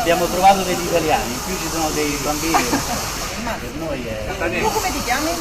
Abbiamo trovato degli italiani, qui ci sono dei bambini. Come ti chiami?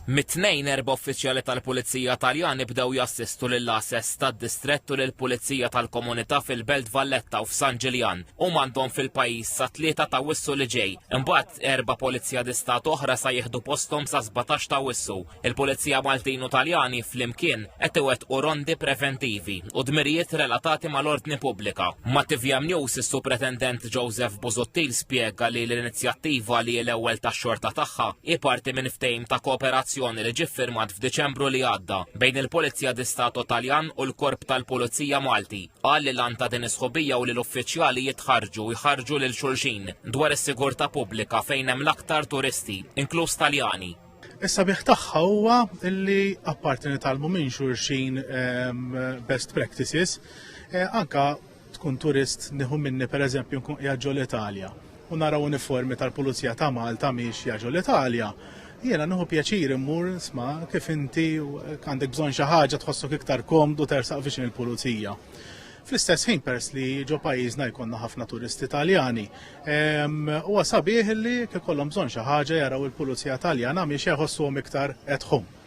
Mit-tnejn erba' uffiċjali tal-Pulizija Taljani bdew jassistu lil ass tad-distrett u lil pulizija tal-komunità fil-Belt Valletta u f'San Ġiljan. Huma għandhom fil-pajjiż sa tlieta ta' Wissu li ġej. Imbagħad erba' Polizija di Stat oħra sa jieħdu posthom sa 17 ta' Wissu. Il-Pulizija Maltin u Taljani flimkien qed iwettqu rondi preventivi u dmirijiet relatati mal-ordni pubblika. Ma' TVM News is-Supretendent Joseph Busuttil spjega li l-inizjattiva li hi l-ewwel tax-xorta tagħha hi parti minn ftehim ta' kooperazzjoni li ġie ffirmat f'Diċembru li għadda bejn il-Polizia di Stato Taljan u l-Korp tal-Pulizija Malti. Qal li l-għan ta' din is-sħubija u li l-uffiċjali jitħarrġu jħarrġu lil xulxin dwar is-sigurtà pubblika fejn hemm l-aktar turisti, inkluż Taljani. Is-sabiħ tagħha huwa li apparti nitalmu minn xulxin ehm, best practices, eh, anka tkun turist nieħu minni pereżempju nkun qiegħed l-Italja u nara uniformi tal-Pulizija ta' Malta miex jaġu l-Italja, jiena nħu pjaċir immur sma kif inti għandek bżonn xi ħaġa tħossok iktar komdu tersaq viċin il-pulizija. Fl-istess ħin peress li ġo pajjiżna jkollna ħafna turisti Taljani. Huwa sabiħ li kif kollhom bżonn xi ħaġa jaraw il-Pulizija Taljana miex jħossuhom iktar at home.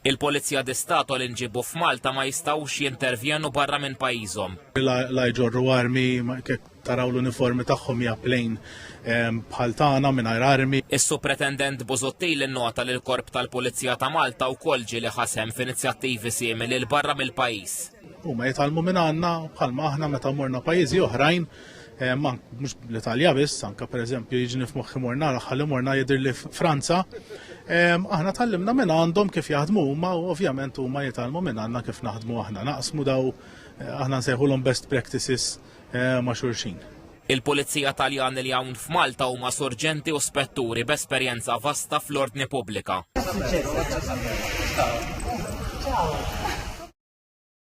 Il-Pulizija di Stato li nġibu f'Malta ma jistgħux jintervjenu barra minn pajjiżhom. La jġorru armi, kif taraw l-uniformi tagħhom hija plejn bħal tagħna mingħajr armi. Is-Supretendent Busuttil innota li l-Korp tal-Pulizija ta' Malta wkoll ġieli ħa sehem f'inizjattivi simili 'l barra mill-pajjiż. Huma jitgħallmu minn għandna bħalma aħna meta morna pajjiżi oħrajn eh, mhux l-Italja biss, anka pereżempju jiġni f'moħħi morna l-aħħar li morna jidhir li Franza. Aħna tallimna minn għandhom kif jaħdmu huma u ovvjament huma jitgħallmu minn għandna kif naħdmu aħna. Naqsmu daw eh, aħna nsejħulhom best practices eh, ma' xulxin. Il-Pulizija Taljani li hawn f'Malta huma sorġenti u spetturi b'esperjenza vasta fl-ordni pubblika.